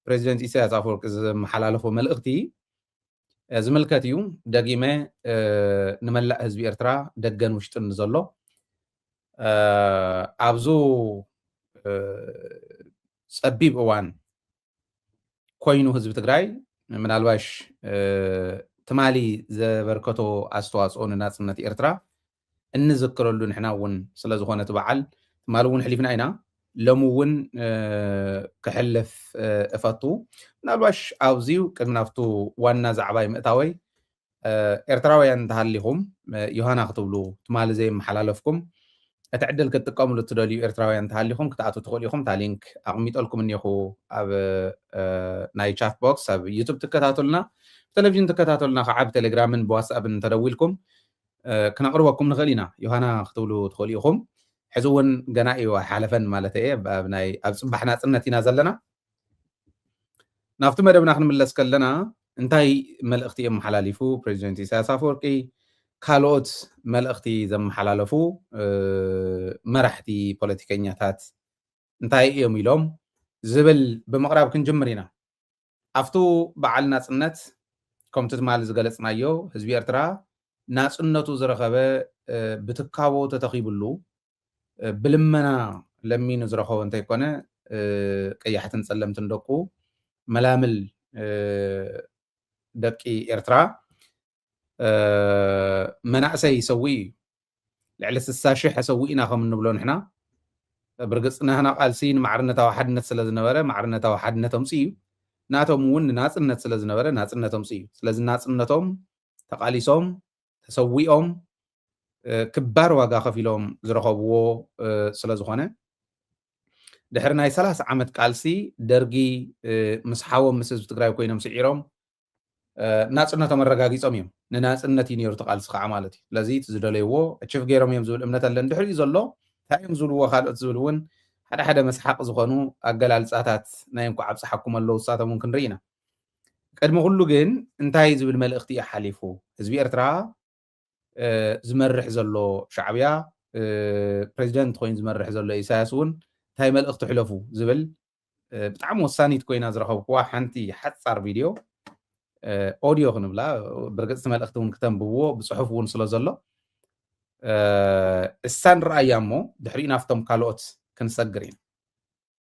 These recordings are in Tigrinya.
ፕረዚደንት ኢሳያስ ኣፈወርቂ ዘመሓላለፎ መልእኽቲ ዝምልከት እዩ። ደጊመ ንመላእ ህዝቢ ኤርትራ ደገን ውሽጥን ንዘሎ ኣብዙ ጸቢብ እዋን ኮይኑ ህዝቢ ትግራይ ምናልባሽ ትማሊ ዘበርከቶ ኣስተዋጽኦ ንናጽነት ኤርትራ እንዝክረሉ ንሕና እውን ስለዝኾነ እቲ በዓል ትማሊ እውን ሕሊፍና ኢና ሎሚ እውን ክሕልፍ እፈቱ ምናልባሽ ኣብዚ ቅድሚ ናብቱ ዋና ዛዕባይ ምእታወይ ኤርትራውያን እንተሃሊኹም ዮሃና ክትብሉ ትማሊ ዘይመሓላለፍኩም እቲ ዕድል ክትጥቀምሉ እትደልዩ ኤርትራውያን እንተሃሊኹም ክትኣትው ትኽእሉ ኢኹም እታ ሊንክ ኣቕሚጠልኩም እኒኹ ኣብ ናይ ቻት ቦክስ ኣብ ዩቱብ ትከታተሉና ብቴሌቭዥን ትከታተሉና ከዓ ብቴሌግራምን ብዋትስኣብን እንተደዊልኩም ክነቅርበኩም ንክእል ኢና ዮሃና ክትብሉ ትክእሉ ኢኩም ሕዚ ውን ገና ኢዩ ኣይሓለፈን ማለተይ ኢየ ኣብ ናይ ኣብ ጽባሕ ናጽነት ኢና ዘለና ናብቲ መደብና ክንምለስ ከለና እንታይ መልእክቲ የመሓላሊፉ ፕሬዚደንት ኢሳያስ ኣፈወርቂ ካልኦት መልእክቲ ዘመሓላለፉ መራሕቲ ፖለቲከኛታት እንታይ ኢዮም ኢሎም ዝብል ብምቅራብ ክንጅምር ኢና ኣብቱ በዓል ናጽነት ከምቱ ትማል ዝገለጽናዮ ህዝቢ ኤርትራ ናጽነቱ ዝረኸበ ብትካቦ ተተኺብሉ ብልመና ለሚኑ ዝረኸቦ እንተይኮነ ቀያሕትን ጸለምትን ደቁ መላምል ደቂ ኤርትራ መናእሰይ ይሰውእ እዩ ልዕሊ ስሳ ሽሕ ኣሰዊእና ከም እንብሎ ንሕና ብርግፅ ናህና ቃልሲ ንማዕርነታዊ ሓድነት ስለ ዝነበረ ማዕርነታዊ ሓድነት ኣምፅ እዩ ናቶም እውን ንናፅነት ስለ ዝነበረ ናፅነት ኣምፅ እዩ ስለዚ ናፅነቶም ተቃሊሶም ተሰዊኦም ክባር ዋጋ ከፊሎም ዝረኸብዎ ስለ ዝኾነ ድሕሪ ናይ ሰላሳ ዓመት ቃልሲ ደርጊ ምስ ሓዎም ምስ ህዝቢ ትግራይ ኮይኖም ስዒሮም ናጽነቶም ኣረጋጊጾም እዮም ንናጽነት እዩ ነይሩ ተቃልሲ ከዓ ማለት እዩ ስለዚ እቲ ዝደለይዎ ኣችፍ ገይሮም እዮም ዝብል እምነት ኣለን ድሕሪኡ ዘሎ እንታይ እዮም ዝብልዎ ካልኦት ዝብል እውን ሓደ ሓደ መስሓቅ ዝኾኑ ኣገላልጻታት ናይ እንኳዕ ኣብጽሓኩም ኣለዉ ንሳቶም እውን ክንርኢ ኢና ቅድሚ ኩሉ ግን እንታይ ዝብል መልእኽቲ እዩ ሓሊፉ ህዝቢ ኤርትራ ዝመርሕ ዘሎ ሻዕብያ ፕረዚደንት ኮይኑ ዝመርሕ ዘሎ ኢሳያስ እውን እንታይ መልእኽቲ ሕለፉ ዝብል ብጣዕሚ ወሳኒት ኮይና ዝረኸብኩዋ ሓንቲ ሓፃር ቪድዮ ኦድዮ ክንብላ ብርግፅ እቲ መልእኽቲ እውን ክተንብብዎ ብፅሑፍ እውን ስለ ዘሎ እሳን ረኣያ እሞ ድሕሪኡ ናፍቶም ካልኦት ክንሰግር ኢና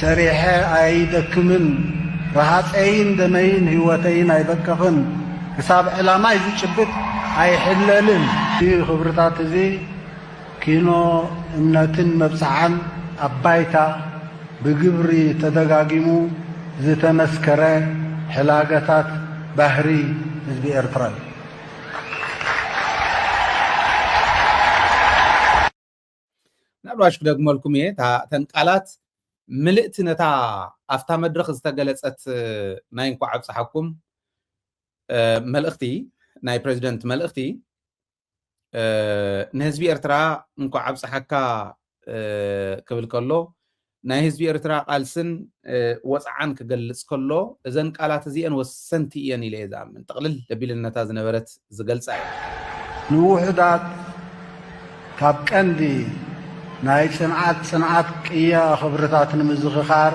ሰሪሐ ኣይደክምን ረሃጸይን ደመይን ህይወተይን ኣይበቅቕን ክሳብ ዕላማይ ዝጭብጥ ኣይሕለልን። እዚ ክብርታት እዚ ኪኖ እምነትን መብጽዓን ኣብ ባይታ ብግብሪ ተደጋጊሙ ዝተመስከረ ሕላገታት ባህሪ ህዝቢ ኤርትራ እዩ። ምናልባሽ ክደግመልኩም እየ እተን ቃላት ምልእቲ ነታ ኣብታ መድረኽ ዝተገለጸት ናይ እንኳዕ ኣብጽሓኩም መልእኽቲ ናይ ፕሬዚደንት መልእኽቲ ንህዝቢ ኤርትራ እንኳዕ ኣብጽሓካ ክብል ከሎ ናይ ህዝቢ ኤርትራ ቃልስን ወጽዓን ክገልጽ ከሎ እዘን ቃላት እዚኤን ወሰንቲ ኢየን ኢለ ኢየ ዝኣምን። ጥቕልል ኣቢለን ነታ ዝነበረት ዝገልጻ ኢየን። ንውሑዳት ካብ ቀንዲ ናይ ጽንዓት ጽንዓት ቅያ ክብርታት ንምዝኽኻር፣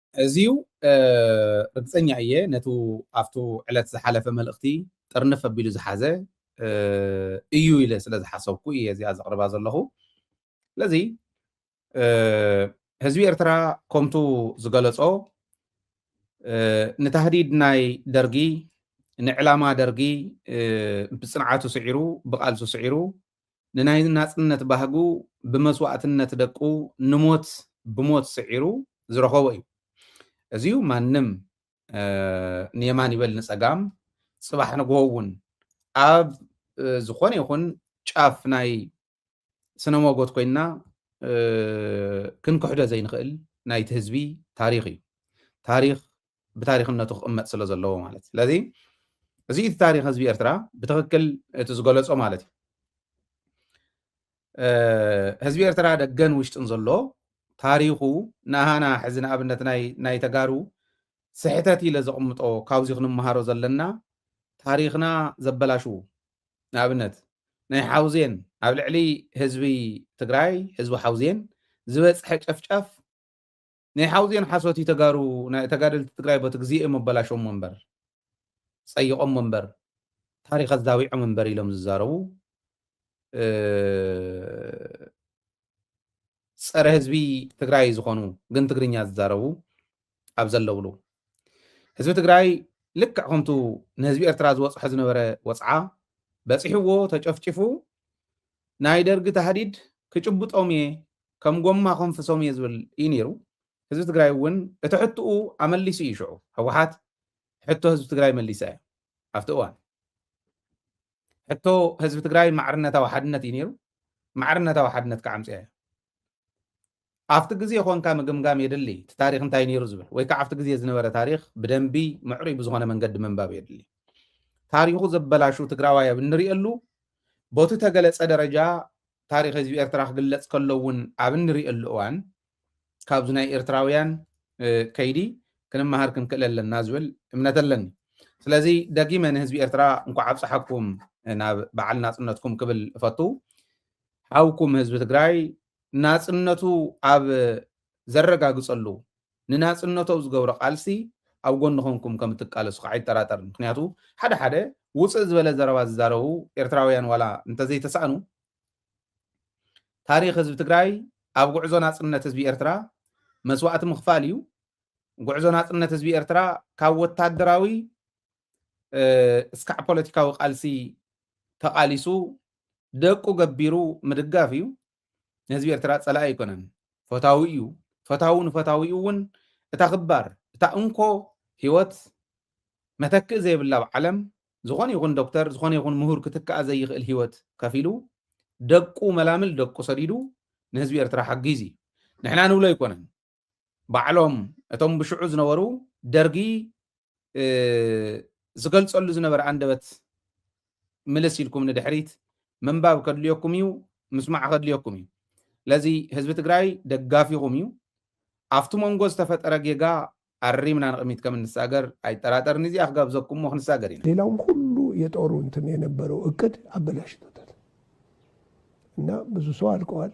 እዚዩ ርግጸኛ እየ ነቱ ኣብቱ ዕለት ዝሓለፈ መልእኽቲ ጥርንፍ ኣቢሉ ዝሓዘ እዩ ኢለ ስለ ዝሓሰብኩ እየ እዚኣ ዘቕርባ ዘለኹ ስለዚ ህዝቢ ኤርትራ ከምቱ ዝገለጾ ንታህዲድ ናይ ደርጊ ንዕላማ ደርጊ ብጽንዓቱ ስዒሩ ብቓልሱ ስዒሩ ንናይ ናጽነት ባህጉ ብመስዋእትነት ደቁ ንሞት ብሞት ስዒሩ ዝረኸቦ እዩ። እዚዩ ማንም ንየማን ይበል ንጸጋም ጽባሕ ንግሆ እውን ኣብ ዝኾነ ይኹን ጫፍ ናይ ስነ ሞጎት ኮይና ክንክሕዶ ዘይንኽእል ናይቲ ህዝቢ ታሪኽ እዩ። ታሪኽ ብታሪኽነቱ ክቕመጥ ስለ ዘለዎ ማለት እዩ። ስለዚ እዚ እቲ ታሪኽ ህዝቢ ኤርትራ ብትኽክል እቲ ዝገለጾ ማለት እዩ። ህዝቢ ኤርትራ ደገን ውሽጥን ዘሎ ታሪኹ ንሃና ሕዚ ንኣብነት ናይ ተጋሩ ስሕተት ኢለ ዘቕምጦ ካብዚ ክንመሃሮ ዘለና ታሪኽና ዘበላሽዉ ንኣብነት ናይ ሓውዜን ኣብ ልዕሊ ህዝቢ ትግራይ ህዝቢ ሓውዜን ዝበፅሐ ጨፍጫፍ ናይ ሓውዜን ሓሶት እዩ ተጋሩ ናይ ተጋደልቲ ትግራይ ቦቲ ግዜ እዮም ኣበላሾሞ እምበር ጸይቆሞ እምበር ታሪክ ኣዛዊዖም እምበር ኢሎም ዝዛረቡ ፀረ ህዝቢ ትግራይ ዝኾኑ ግን ትግርኛ ዝዛረቡ ኣብ ዘለውሉ ህዝቢ ትግራይ ልክዕ ከምቱ ንህዝቢ ኤርትራ ዝበፅሖ ዝነበረ ወፅዓ በፂሕዎ ተጨፍጭፉ ናይ ደርጊ ታህዲድ ክጭብጦም እየ ከም ጎማ ኮንፍሶም እየ ዝብል እዩ ነይሩ። ህዝቢ ትግራይ እውን እቲ ሕትኡ ኣመሊሱ እዩ ሽዑ። ህወሓት ሕቶ ህዝቢ ትግራይ መሊሳ እያ ኣብቲ እዋን። ሕቶ ህዝቢ ትግራይ ማዕርነታዊ ሓድነት እዩ ነይሩ። ማዕርነታዊ ሓድነት ከዓ ኣምፅኣ እያ። ኣብቲ ግዜ ኮንካ ምግምጋም የድሊ እቲ ታሪክ እንታይ ነይሩ ዝብል ወይ ከዓ ኣብቲ ግዜ ዝነበረ ታሪክ ብደንቢ ምዕሩይ ብዝኾነ መንገዲ ምንባብ የድሊ። ታሪኹ ዘበላሹ ትግራዋይ ኣብ እንሪእየሉ ቦቲ ተገለፀ ደረጃ ታሪኽ ህዝቢ ኤርትራ ክግለጽ ከሎ እውን ኣብ እንርእየሉ እዋን ካብዚ ናይ ኤርትራውያን ከይዲ ክንመሃር ክንክእል ኣለና ዝብል እምነት ኣለኒ። ስለዚ ደጊመ ንህዝቢ ኤርትራ እንኳዕ ኣብጽሓኩም ናብ በዓል ናጽነትኩም ክብል እፈቱ። ሓውኩም ህዝቢ ትግራይ ናጽነቱ ኣብ ዘረጋግጸሉ ንናጽነቶው ዝገብሮ ቃልሲ ኣብ ጎኒ ኮንኩም ከም እትቃለሱ ከኣ ኣይጠራጠርን ምክንያቱ ሓደ ሓደ ውጽእ ዝበለ ዘረባ ዝዛረቡ ኤርትራውያን ዋላ እንተ ዘይተሳእኑ ታሪኽ ህዝቢ ትግራይ ኣብ ጉዕዞ ናጽነት ህዝቢ ኤርትራ መስዋእቲ ምኽፋል እዩ ጉዕዞ ናጽነት ህዝቢ ኤርትራ ካብ ወታደራዊ እስካዕ ፖለቲካዊ ቃልሲ ተቃሊሱ ደቁ ገቢሩ ምድጋፍ እዩ ንህዝቢ ኤርትራ ጸላኢ ኣይኮነን ፈታዊ እዩ ፈታዊ ንፈታዊኡ እውን እታ ክባር እታ እንኮ ህይወት መተክእ ዘይብላ ኣብ ዓለም ዝኾነ ይኹን ዶክተር ዝኾነ ይኹን ምሁር ክትክኣ ዘይኽእል ህይወት ከፊሉ ደቁ መላምል ደቁ ሰዲዱ ንህዝቢ ኤርትራ ሓጊዙ እዩ ንሕና ንብሎ ኣይኮነን ባዕሎም እቶም ብሽዑ ዝነበሩ ደርጊ ዝገልጸሉ ዝነበረ ኣንደበት ምልስ ኢልኩም ንድሕሪት ምንባብ ከድልዮኩም እዩ፣ ምስማዕ ከድልዮኩም እዩ። ስለዚ ህዝቢ ትግራይ ደጋፊኹም እዩ። ኣብቲ መንጎ ዝተፈጠረ ጌጋ ኣሪምና ንቕሚት ከም እንሳገር ኣይጠራጠርን። እዚኣ ክጋብዘኩም እሞ ክንሳገር ኢና። ሌላውም ሁሉ የጦሩ እንትን የነበረው እቅድ ኣበላሽቶታል እና ብዙ ሰው ኣልቀዋል።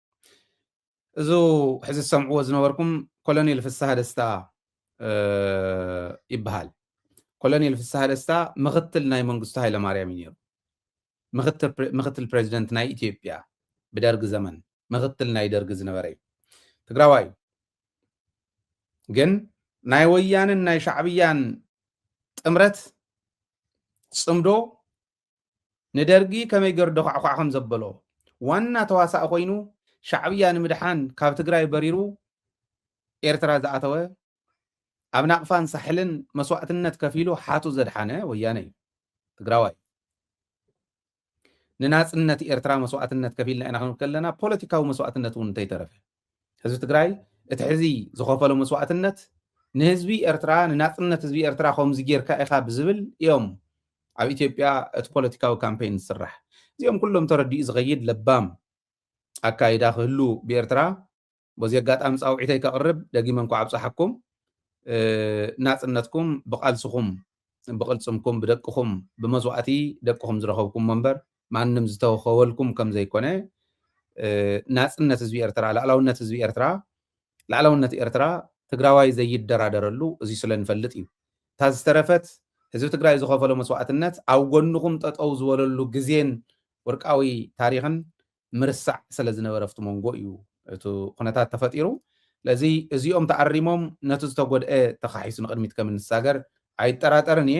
እዙ ሕዚ ዝሰምዕዎ ዝነበርኩም ኮሎኔል ፍስሃ ደስታ ይበሃል። ኮሎኔል ፍስሃ ደስታ ምክትል ናይ መንግስቱ ሃይለማርያም እዩ ነይሩ። ምክትል ፕሬዚደንት ናይ ኢትዮጵያ ብደርጊ ዘመን ምክትል ናይ ደርጊ ዝነበረ እዩ። ትግራዋይ እዩ። ግን ናይ ወያንን ናይ ሻዕብያን ጥምረት ፅምዶ ንደርጊ ከመይ ገሩ ደዃዕዃዕ ከም ዘበሎ፣ ዋና ተዋሳኢ ኮይኑ ሻዕብያ ንምድሓን ካብ ትግራይ በሪሩ ኤርትራ ዝኣተወ፣ ኣብ ናቕፋን ሳሕልን መስዋእትነት ከፊሉ ሓቱ ዘድሓነ ወያነ እዩ። ትግራዋይ ንናጽነት ኤርትራ መስዋእትነት ከፊልና ኢና ክንብል ከለና ፖለቲካዊ መስዋእትነት እውን እንተይተረፈ ህዝቢ ትግራይ እቲ ሕዚ ዝኸፈሎ መስዋእትነት ንህዝቢ ኤርትራ ንናፅነት ህዝቢ ኤርትራ ከምዚ ጌርካ ኢኻ ብዝብል እዮም ኣብ ኢትዮጵያ እቲ ፖለቲካዊ ካምፔይን ዝስራሕ እዚኦም ኩሎም ተረዲኡ ዝኸይድ ለባም ኣካይዳ ክህሉ ብኤርትራ በዚ ኣጋጣሚ ፃውዒተይ ከቕርብ ደጊመ እንኳ ኣብፀሓኩም ናፅነትኩም ብቓልስኹም ብቕልፅምኩም ብደቅኹም ብመስዋእቲ ደቅኹም ዝረኸብኩሞ እምበር ማንም ዝተወከወልኩም ከም ዘይኮነ ናጽነት ህዝቢ ኤርትራ ላዕላውነት ህዝቢ ኤርትራ ላዕላውነት ኤርትራ ትግራዋይ ዘይደራደረሉ እዚ ስለ ንፈልጥ እዩ እታ ዝተረፈት ህዝቢ ትግራይ ዝኸፈሎ መስዋእትነት ኣብ ጎንኹም ጠጠው ዝበለሉ ግዜን ወርቃዊ ታሪኽን ምርሳዕ ስለ ዝነበረ ኣብቲ መንጎ እዩ እቲ ኩነታት ተፈጢሩ ስለዚ እዚኦም ተኣሪሞም ነቲ ዝተጎድአ ተኻሒሱ ንቅድሚት ከም እንሳገር ኣይጠራጠርን እየ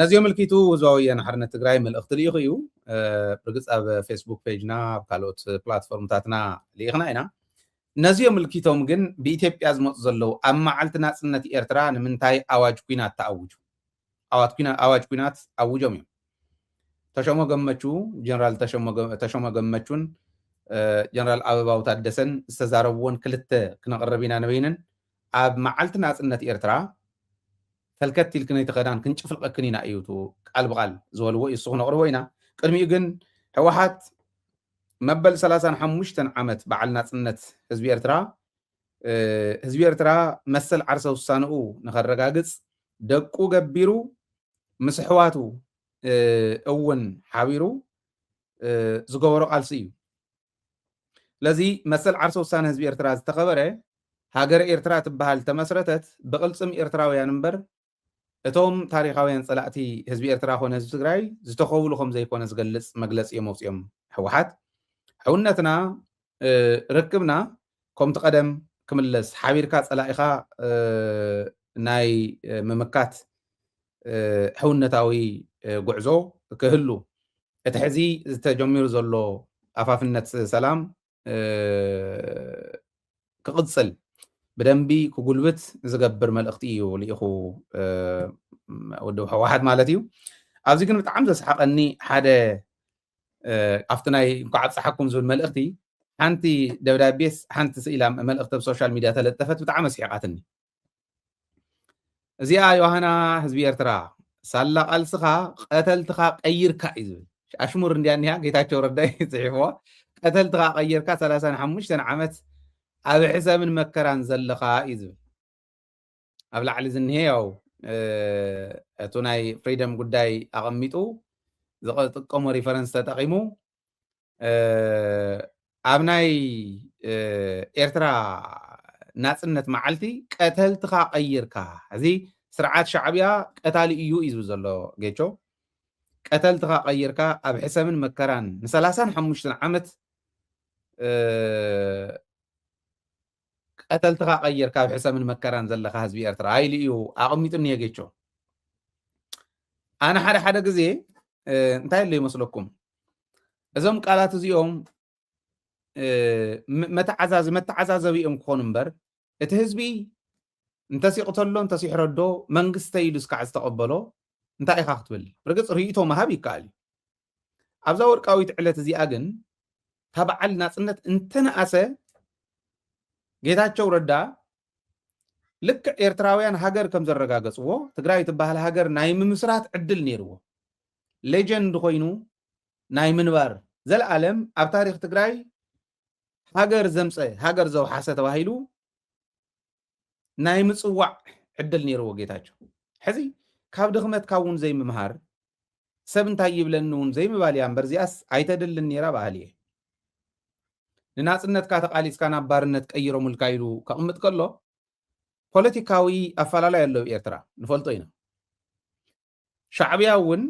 ነዚ ኣመልኪቱ ህዝባዊ ወያነ ሓርነት ትግራይ መልእኽቲ ልኢኹ እዩ ብርግፅ ኣብ ፌስቡክ ፔጅና ኣብ ካልኦት ፕላትፎርምታትና ልኢኽና ኢና ነዚ ኣመልኪቶም ግን ብኢትዮጵያ ዝመፁ ዘለዉ ኣብ መዓልቲ ናፅነት ኤርትራ ንምንታይ ኣዋጅ ኩናት ተኣውጁ ኣዋጅ ኩናት ኣውጆም እዮም ተሸሞ ገመቹ ጀነራል ተሸሞ ገመቹን ጀነራል ኣበባው ታደሰን ዝተዛረብዎን ክልተ ክነቕርብ ኢና ንበይንን ኣብ መዓልቲ ናጽነት ኤርትራ ሰልከት ኢልክንይ ተኸዳን ክንጭፍልቐክን ኢና እዩ እቱ ቃል ብቓል ዝበልዎ እዩ እሱ ክነቕርቦ ኢና ቅድሚኡ ግን ሕዋሓት መበል ሰላሳን ሓሙሽተን ዓመት በዓል ናጽነት ህዝቢ ኤርትራ ህዝቢ ኤርትራ መሰል ዓርሰ ውሳንኡ ንኸረጋግጽ ደቁ ገቢሩ ምስ ኣሕዋቱ እውን ሓቢሩ ዝገበሮ ቃልሲ እዩ ስለዚ መሰል ዓርሰ ውሳነ ህዝቢ ኤርትራ ዝተኸበረ፣ ሃገረ ኤርትራ ትበሃል ዝተመስረተት ብቕልጽም ኤርትራውያን እምበር እቶም ታሪኻውያን ጸላእቲ ህዝቢ ኤርትራ ኮነ ህዝቢ ትግራይ ዝተኸብሉ ከም ዘይኮነ ዝገልጽ መግለጺ እዮም ኣውጺኦም። ህወሓት ሕውነትና ርክብና ከምቲ ቀደም ክምለስ ሓቢርካ ጸላኢኻ ናይ ምምካት ሕውነታዊ ጉዕዞ ክህሉ እቲ ሕዚ ዝተጀሚሩ ዘሎ ኣፋፍነት ሰላም ክቕጽል ብደንቢ ክጉልብት ዝገብር መልእኽቲ እዩ ልኢኹ ውድብ ሕወሓት ማለት እዩ። ኣብዚ ግን ብጣዕሚ ዘስሓቀኒ ሓደ ኣብቲ ናይ እንኳዕ ኣብፀሓኩም ዝብል መልእኽቲ ሓንቲ ደብዳቤስ ሓንቲ ስኢላ መልእኽቲ ኣብ ሶሻል ሚድያ ተለጠፈት ብጣዕሚ ኣስሒቓትኒ እዚኣ ዮሃና ህዝቢ ኤርትራ ሳላ ቃልስኻ ቀተልትኻ ቀይርካ እዩ ዝብል ኣሽሙር እንዲያ እኒሃ ጌታቸው ረዳይ ፅሒፍዋ ቀተልትኻ ቀይርካ 35 ዓመት ኣብ ሕሰምን መከራን ዘለኻ እዩ ዝብል ኣብ ላዕሊ ዝኒሀ ያው እቱ ናይ ፍሪደም ጉዳይ ኣቐሚጡ ዝጥቀሞ ሪፈረንስ ተጠቒሙ ኣብ ናይ ኤርትራ ናፅነት መዓልቲ ቀተልትኻ ቀይርካ እዚ ስርዓት ሻዕብያ ቀታሊ እዩ እዩ ዘሎ ጌቾ ቀተልትኻ ቀይርካ ኣብ ሕሰምን መከራን ንሰላሳን ሓሙሽተን ዓመት ቀተልትኻ ቀይርካ ኣብ ሕሰምን መከራን ዘለኻ ህዝቢ ኤርትራ ኢሉ እዩ ኣቐሚጡ እኒሀ ጌቾ። ኣነ ሓደ ሓደ ግዜ እንታይ ኣሎ ይመስለኩም እዞም ቃላት እዚኦም መተዓዛዚ መተዓዛዘቢ እዮም ክኾኑ እምበር እቲ ህዝቢ እንተሲቕተሎ እንተሲሕረዶ መንግስተይ ኢሉ እስካዕ ዝተቐበሎ እንታይ ኢኻ ክትብል ርግጽ ርእይቶ ምሃብ ይከኣል እዩ ኣብዛ ወርቃዊት ዕለት እዚኣ ግን እታ በዓል ናጽነት እንተነኣሰ ጌታቸው ረዳ ልክዕ ኤርትራውያን ሃገር ከም ዘረጋገፅዎ ትግራይ ትበሃል ሃገር ናይ ምምስራት ዕድል ነይርዎ ሌጀንድ ኮይኑ ናይ ምንባር ዘለኣለም ኣብ ታሪክ ትግራይ ሃገር ዘምፀ ሃገር ዘውሓሰ ተባሂሉ ናይ ምፅዋዕ ዕድል ነይርዎ ጌታቸው ሕዚ ካብ ድኽመትካ እውን ዘይምምሃር ሰብ እንታይ ይብለኒ እውን ዘይምባል እያ እምበር እዚኣስ ኣይተድልን ነይራ በሃሊ እየ ንናፅነትካ ተቃሊስካ ናብ ባርነት ቀይሮምልካ ኢሉ ከቕምጥ ከሎ ፖለቲካዊ ኣፈላላይ ኣሎ ኣብ ኤርትራ ንፈልጦ ኢና ሻዕብያ እውን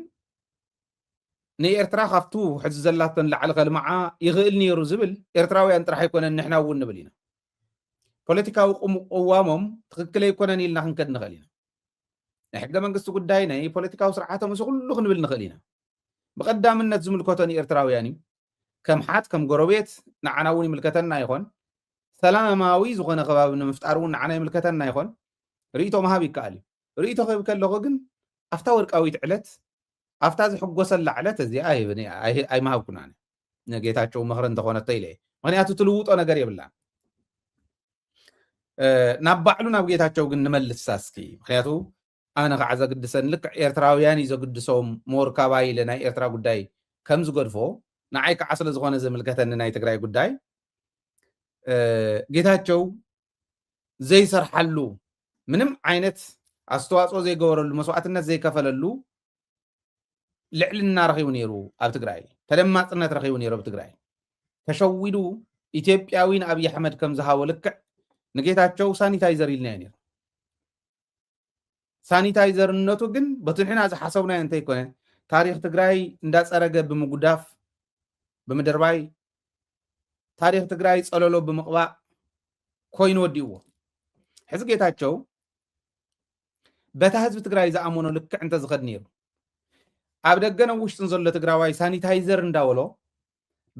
ንኤርትራ ካብቱ ሕዚ ዘላቶ ንላዕሊ ከልምዓ ይኽእል ነይሩ ዝብል ኤርትራውያን ጥራሕ ኣይኮነን ንሕና እውን ንብል ኢና። ፖለቲካዊ ቅዋሞም ትኽክል ኣይኮነን ኢልና ክንከድ ንኽእል ኢና። ናይ ሕገ መንግስቲ ጉዳይ ናይ ፖለቲካዊ ስርዓቶም እዚ ኩሉ ክንብል ንኽእል ኢና። ብቐዳምነት ዝምልከቶ ንኤርትራውያን እዩ። ከም ሓት ከም ጎረቤት ንዓና እውን ይምልከተና ይኾን። ሰላማዊ ዝኾነ ከባቢ ንምፍጣር እውን ንዓና ይምልከተና ይኾን። ርእይቶ ምሃብ ይከኣል እዩ። ርእይቶ ክህብ ከለኹ ግን ኣብታ ወርቃዊት ዕለት ኣብታ ዝሕጎሰላ ዕለት እዚኣ ኣይምሃብኩናን ንጌታቸው ምኽሪ እንተኾነቶ ኢለ ምክንያቱ ትልውጦ ነገር የብላን ናብ ባዕሉ ናብ ጌታቸው ግን ንመልሳ እስኪ ምክንያቱ ኣነ ከዓ ዘግድሰን ልክዕ ኤርትራውያን እዩ ዘግድሶም ሞርካባ ኢለ ናይ ኤርትራ ጉዳይ ከም ዝገድፎ ንዓይ ከዓ ስለዝኾነ ዝምልከተኒ ናይ ትግራይ ጉዳይ ጌታቸው ዘይሰርሓሉ ምንም ዓይነት ኣስተዋፅኦ ዘይገበረሉ መስዋእትነት ዘይከፈለሉ ልዕልና ረኺቡ ነይሩ ኣብ ትግራይ ተደማፅነት ረኺቡ ነይሩ ኣብ ትግራይ ተሸዊዱ ኢትዮጵያዊ ንኣብዪ ኣሕመድ ከም ዝሃቦ ልክዕ ንጌታቸው ሳኒታይዘር ኢልና እዩ ነይሩ ሳኒታይዘርነቱ ግን በቲ ንሕና ዝሓሰብናዮ እንተይኮነ ታሪኽ ትግራይ እንዳፀረገ ብምጉዳፍ ብምድርባይ ታሪኽ ትግራይ ፀለሎ ብምቕባእ ኮይኑ ወዲእዎ ሕዚ ጌታቸው በታ ህዝቢ ትግራይ ዝኣመኖ ልክዕ እንተዝኸድ ነይሩ ኣብ ደገን ኣብ ውሽጥን ዘሎ ትግራዋይ ሳኒታይዘር እንዳበሎ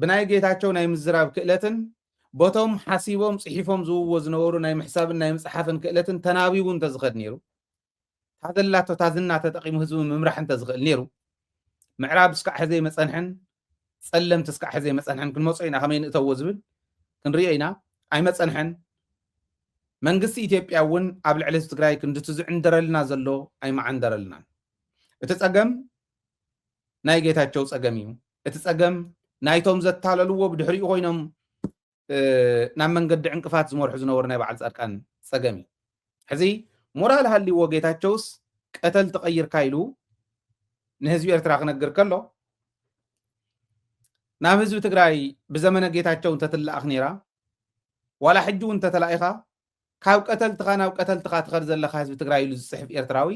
ብናይ ጌታቸው ናይ ምዝራብ ክእለትን ቦቶም ሓሲቦም ጽሒፎም ዝውዎ ዝነበሩ ናይ ምሕሳብን ናይ ምጽሓፍን ክእለትን ተናቢቡ እንተዝኸድ ነይሩ ታዘላቶ ታዝና ተጠቂሙ ህዝቢ ምምራሕ እንተዝኽእል ነይሩ ምዕራብ እስካዕ ሕዘይ መጸንሕን ጸለምቲ እስካዕ ሕዘይ መጸንሕን ክንመጾ ኢና ከመይ ንእተዎ ዝብል ክንሪኦ ኢና ኣይመጸንሐን መንግስቲ ኢትዮጵያ እውን ኣብ ልዕሊ ህዝቢ ትግራይ ክንድቲ ዝዕንደረልና ዘሎ ኣይመዓንደረልናን እቲ ፀገም ናይ ጌታቸው ፀገም እዩ እቲ ፀገም ናይቶም ዘታለልዎ ብድሕሪኡ ኮይኖም ናብ መንገዲ ዕንቅፋት ዝመርሑ ዝነበሩ ናይ በዓል ፃድቃን ፀገም እዩ። ሕዚ ሞራል ሃልይዎ ጌታቸውስ ቀተልቲ ቀይርካ ኢሉ ንህዝቢ ኤርትራ ክነግር ከሎ ናብ ህዝቢ ትግራይ ብዘመነ ጌታቸው እንተትለኣኽ ነይራ ዋላ ሕጂ እውን እንተተላኢኻ ካብ ቀተልትኻ ናብ ቀተልትኻ ትኸድ ዘለኻ ህዝቢ ትግራይ ኢሉ ዝፅሕፍ ኤርትራዊ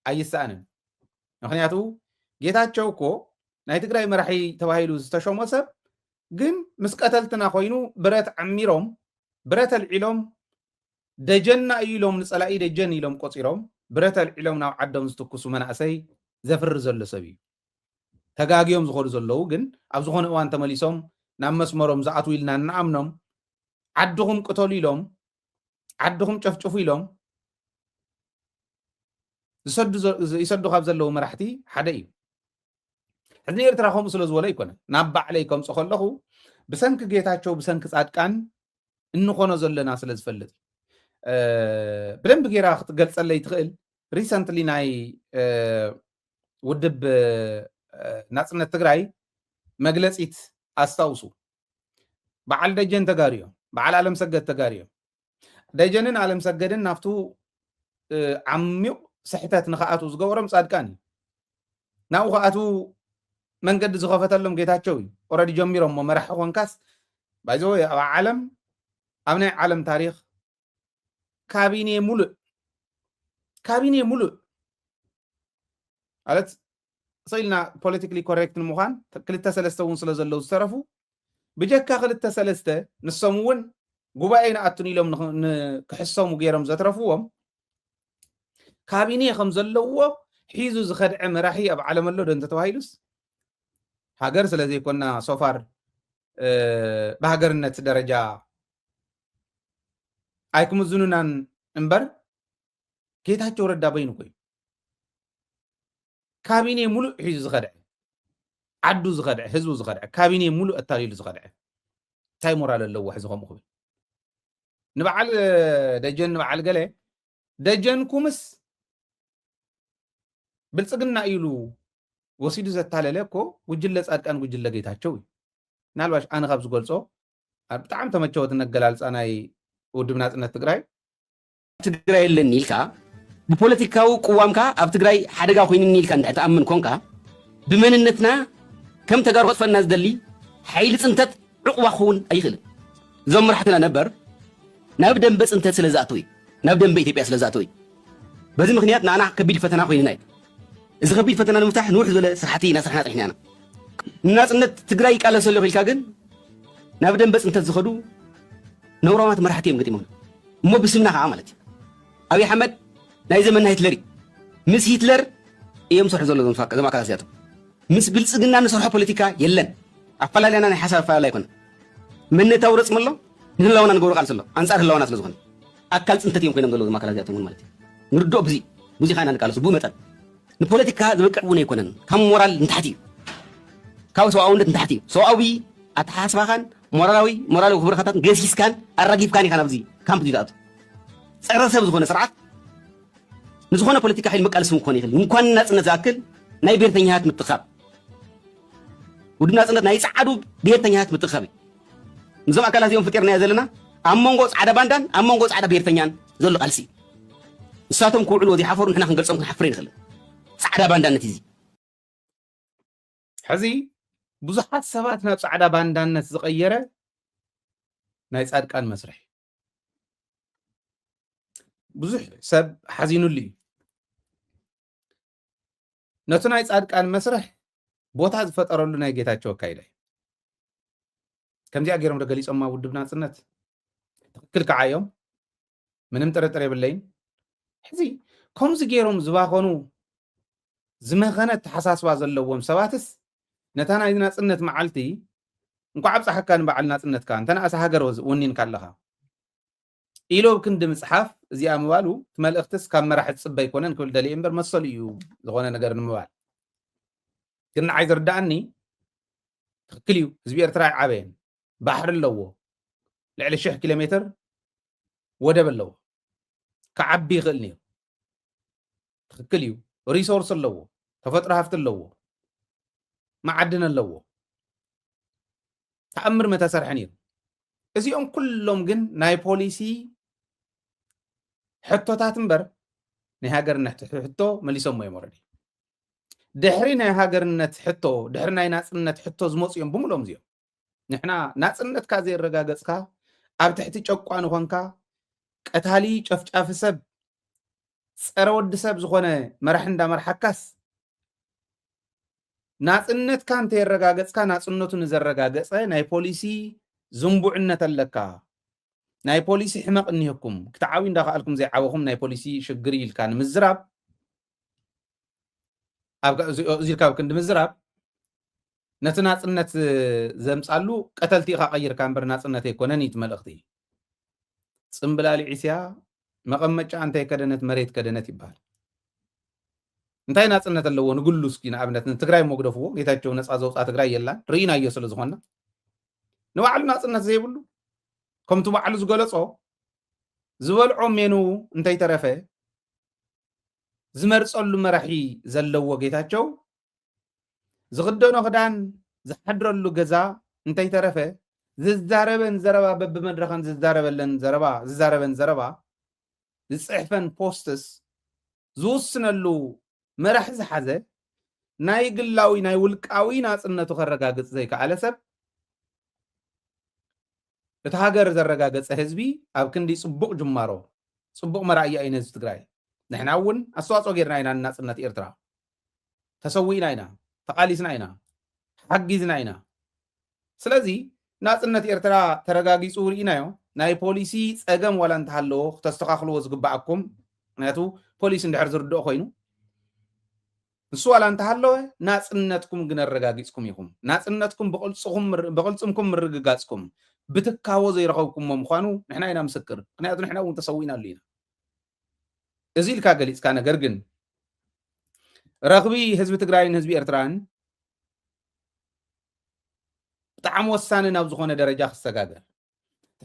ኣይሰኣንን። ምክንያቱ ጌታቸው እኮ ናይ ትግራይ መራሒ ተባሂሉ ዝተሾሞ ሰብ ግን ምስ ቀተልትና ኮይኑ ብረት ዓሚሮም ብረት ኣልዒሎም ደጀና እዩ ኢሎም ንፀላኢ ደጀን ኢሎም ቆፂሮም ብረት ኣልዒሎም ናብ ዓዶም ዝትኩሱ መናእሰይ ዘፍሪ ዘሎ ሰብ እዩ ተጋግዮም ዝኸዱ ዘለዉ ግን ኣብ ዝኾነ እዋን ተመሊሶም ናብ መስመሮም ዝኣትው ኢልና እናኣምኖም ዓድኹም ቅተሉ ኢሎም ዓድኹም ጨፍጭፉ ኢሎም ይሰዱ ካብ ዘለዉ መራሕቲ ሓደ እዩ ሕዚ ኤርትራ ከምኡ ስለ ዝበሎ ኣይኮነ ናብ ባዕለይ ከምፆ ከለኹ ብሰንኪ ጌታቸው ብሰንኪ ፃድቃን እንኾኖ ዘለና ስለ ዝፈልጥ ብደንብ ጌራ ክትገልፀለይ ትኽእል ሪሰንትሊ ናይ ውድብ ናፅነት ትግራይ መግለፂት ኣስታውሱ በዓል ደጀን ተጋሩ እዮም በዓል ኣለም ሰገድ ተጋሩ እዮም ደጀንን ኣለም ሰገድን ናብቱ ዓሚቕ ስሕተት ንክኣትዉ ዝገበሮም ፃድቃን እዩ ናብኡ ክኣትዉ መንገዲ ዝኸፈተሎም ጌታቸው እዩ ኦረዲ ጀሚሮሞ መራሒ ኮንካስ ባይዘወ ኣብ ዓለም ኣብ ናይ ዓለም ታሪክ ካቢኔ ሙሉእ ካቢኔ ሙሉእ ማለት ስኢልና ፖለቲካሊ ኮሬክት ንምዃን ክልተ ሰለስተ እውን ስለ ዘለዉ ዝተረፉ ብጀካ ክልተ ሰለስተ ንሶም እውን ጉባኤ ንኣቱን ኢሎም ክሕሰሙ ገይሮም ዘትረፍዎም ካቢኔ ከም ዘለዎ ሒዙ ዝኸድዐ መራሒ ኣብ ዓለም ኣሎ ዶ እንተተባሂሉስ ሃገር ስለ ዘይኮና ሶፋር ብሃገርነት ደረጃ ኣይክምዝኑናን እምበር ጌታቸው ረዳ በይኑ ኮይኑ ካቢኔ ሙሉእ ሒዙ ዝኸድዐ ዓዱ ዝኸድዐ ህዝቡ ዝኸድዐ ካቢኔ ሙሉእ ኣታሊሉ ዝኸድዐ እንታይ ሞራል ኣለዎ ሕዚ ከምኡ ክብል ንበዓል ደጀን ንበዓል ገለ ደጀንኩምስ ብልፅግና እዩ ኢሉ ወሲዱ ዘታለለ እኮ ጉጅለ ፃድቃን ጉጅለ ጌታቸው እዩ ምናልባሽ ኣነ ካብ ዝገልፆ ብጣዕሚ ተመቸወትን ኣገላልፃ ናይ ውድብ ናፅነት ትግራይ ትግራይ ኣለኒ ኢልካ ብፖለቲካዊ ቅዋምካ ኣብ ትግራይ ሓደጋ ኮይንኒ ኢልካ እንድሕር ትኣምን ኮንካ ብመንነትና ከም ተጋሩ ከጥፈና ዝደሊ ሓይሊ ፅንተት ዑቕባ ክኸውን ኣይኽእልን። እዞም መራሕትና ነበር ናብ ደምበ ፅንተት ስለ ዝኣተው እዩ። ናብ ደምበ ኢትዮጵያ ስለ ዝኣተው እዩ። በዚ ምኽንያት ንኣና ከቢድ ፈተና ኮይኑና እዩ። እዚ ከቢድ ፈተና ንምፍታሕ ንውሕ ዝበለ ስራሕቲ እናሰራሕና ፀኒሕና ኢና። ንናፅነት ትግራይ ይቃለስ ኣለኹ ኢልካ ግን ናብ ደምበ ፅንተት ዝኸዱ ነውራማት መራሕቲ እዮም ገጢሞም እሞ ብስምና ከዓ ማለት እዩ ኣብይ ኣሕመድ ናይ ዘመና ሂትለር እዩ ምስ ሂትለር እዮም ዝሰርሑ ዘሎ ዞም ኣካላት እዚኣቶም ምስ ብልጽግና ንሰርሖ ፖለቲካ የለን። ኣፈላልያና ናይ ሓሳብ ኣፈላላይ ኣይኮነን። መንነታዊ ረጽሚ ኣሎ፣ ንህላወና ንገብሮ ቃልሲ ኣሎ። ኣንጻር ህላወና ስለ ዝኾነ ኣካል ጽንተት እዮም ኮይኖም ዘለዉ እዞም ኣካላት እዚኣቶም እውን ማለት እዩ። ንርድኦ ብዚ ብዙ ኢና ንቃለሱ ብኡ መጠን ንፖለቲካ ዝበቅዕ እውን ኣይኮነን። ካብ ሞራል ንታሕቲ እዩ፣ ካብ ሰብኣውነት ንታሕቲ እዩ። ሰብኣዊ ኣተሓሳስባኻን ሞራላዊ ሞራላዊ ክብርኻታትን ገሲስካን ኣራጊፍካን ኢኻ ናብዚ ካምፕ ዝኣቱ ጸረ ሰብ ዝኾነ ስርዓት ንዝኾነ ፖለቲካ ሓይሊ መቃለሲ እውን ክኾን ይኽእል እንኳን ናፅነት ዝኣክል ናይ ብሔርተኛታት ምትኻብ ውድብ ናፅነት ናይ ፃዓዱ ብሔርተኛታት ምትኻብ እዩ ንዞም ኣካላት እዚኦም ፍጢርናዮ ዘለና ኣብ መንጎ ፃዕዳ ባንዳን ኣብ መንጎ ፃዕዳ ብሔርተኛን ዘሎ ቃልሲ እዩ ንሳቶም ክውዕልዎ ዘይሓፈሩ ንሕና ክንገልፆም ክንሓፍር ይንኽእል ፃዕዳ ባንዳነት እዩ ሕዚ ብዙሓት ሰባት ናብ ፃዕዳ ባንዳነት ዝቐየረ ናይ ፃድቃን መስርሕ ብዙሕ ሰብ ሓዚኑሉ እዩ ነቲ ናይ ፃድቃን መስርሕ ቦታ ዝፈጠረሉ ናይ ጌታቸው ኣካይዳ እዩ ከምዚኣ ገይሮም ዶ ገሊፆማ ውድብ ናፅነት ትክክል ከዓ እዮም ምንም ጥርጥር የብለይን ሕዚ ከምዚ ገይሮም ዝባኸኑ ዝመኸነ ተሓሳስባ ዘለዎም ሰባትስ ነታ ናይ ናጽነት መዓልቲ እንኳዕ ኣብጽሓካ ንበዓል ናጽነትካ እንተነኣሰ ሃገር ወኒንካ ኣለኻ ኢሉ ኣብ ክንዲ ምጽሓፍ እዚኣ ምባሉ እቲ መልእኽትስ ካብ መራሒ ዝጽበ ኣይኮነን ክብል ደልየ እምበር መሰሉ እዩ ዝኾነ ነገር ንምባል ግን ንዓይ ዝርዳእኒ ትክክል እዩ ህዝቢ ኤርትራ ኣይዓበየን ባሕሪ ኣለዎ ልዕሊ ሽሕ ኪሎ ሜትር ወደብ ኣለዎ ክዓቢ ይኽእል ነይሩ ትክክል እዩ ሪሶርስ ኣለዎ ተፈጥሮ ሃፍቲ ኣለዎ መዓድን ኣለዎ ተኣምር መተሰርሐ ነይሩ እዚኦም ኩሎም ግን ናይ ፖሊሲ ሕቶታት እምበር ናይ ሃገርነት ሕቶ መሊሶሞ እዮም ወረዲ ድሕሪ ናይ ሃገርነት ሕቶ ድሕሪ ናይ ናፅነት ሕቶ ዝመፁ እዮም ብምሎም እዚኦም ንሕና ናጽነትካ ዘየረጋገጽካ ኣብ ትሕቲ ጨቋኒ ኾንካ ቀታሊ ጨፍጫፊ ሰብ ፀረ ወዲ ሰብ ዝኾነ መራሒ እንዳመርሓካስ ናፅነትካ እንተየረጋገፅካ ናፅነቱ ንዘረጋገፀ ናይ ፖሊሲ ዝንቡዕነት ኣለካ ናይ ፖሊሲ ሕመቕ እኒህኩም ክትዓብዩ እንዳኸኣልኩም ዘይዓበኹም ናይ ፖሊሲ ሽግር ኢልካ ንምዝራብ እዚ ኢልካ ኣብ ክንዲ ምዝራብ ነቲ ናጽነት ዘምጻሉ ቀተልቲ ኢኻ ቀይርካ እምበር ናጽነት ኣይኮነን እዩ እቲ መልእኽቲ። ጽምብላሊ ዒስያ መቐመጫ እንታይ ከደነት መሬት ከደነት ይበሃል። እንታይ ናጽነት ኣለዎ ንግሉ እስኪ ንኣብነት ንትግራይ እሞ ግደፍዎ ጌታቸው ነፃ ዘውፃ ትግራይ የላን ርኢናዮ ስለ ዝኾና ንባዕሉ ናጽነት ዘይብሉ ከምቲ ባዕሉ ዝገለጾ ዝበልዖ ሜኑ እንተይተረፈ ዝመርጸሉ መራሒ ዘለዎ ጌታቸው ዝኽደኖ ክዳን ዝሓድረሉ ገዛ እንተይተረፈ ዝዛረበን ዘረባ በብመድረኸን ዝዛረበለን ዘረባ ዝዛረበን ዘረባ ዝፅሕፈን ፖስትስ ዝውስነሉ መራሒ ዝሓዘ ናይ ግላዊ ናይ ውልቃዊ ናፅነቱ ከረጋግፅ ዘይከኣለ ሰብ እቲ ሃገር ዘረጋገፀ ህዝቢ ኣብ ክንዲ ፅቡቕ ጅማሮ ፅቡቕ መራእያ እዩ ንህዝቢ ትግራይ ንሕና እውን ኣስተዋፅኦ ጌርና ኢና ንናፅነት ኤርትራ ተሰዊእና ኢና ተቃሊስና ኢና ሓጊዝና ኢና ስለዚ ናጽነት ኤርትራ ተረጋጊጹ ርኢናዮ ናይ ፖሊሲ ጸገም ዋላ እንተሃለዎ ክተስተኻኽልዎ ዝግባኣኩም ምክንያቱ ፖሊሲ እንድሕር ዝርድኦ ኮይኑ ንሱ ዋላ እንተሃለወ ናጽነትኩም ግን ኣረጋጊጽኩም ኢኹም ናጽነትኩም ብቕልጽምኩም ምርግጋጽኩም ብትካቦ ዘይረኸብኩሞ ምዃኑ ንሕና ኢና ምስክር ምክንያቱ ንሕና እውን ተሰዊእናሉ ኢና እዚ ኢልካ ገሊፅካ ነገር ግን ረኽቢ ህዝቢ ትግራይን ህዝቢ ኤርትራን ብጣዕሚ ወሳኒ ናብ ዝኾነ ደረጃ ክሰጋገር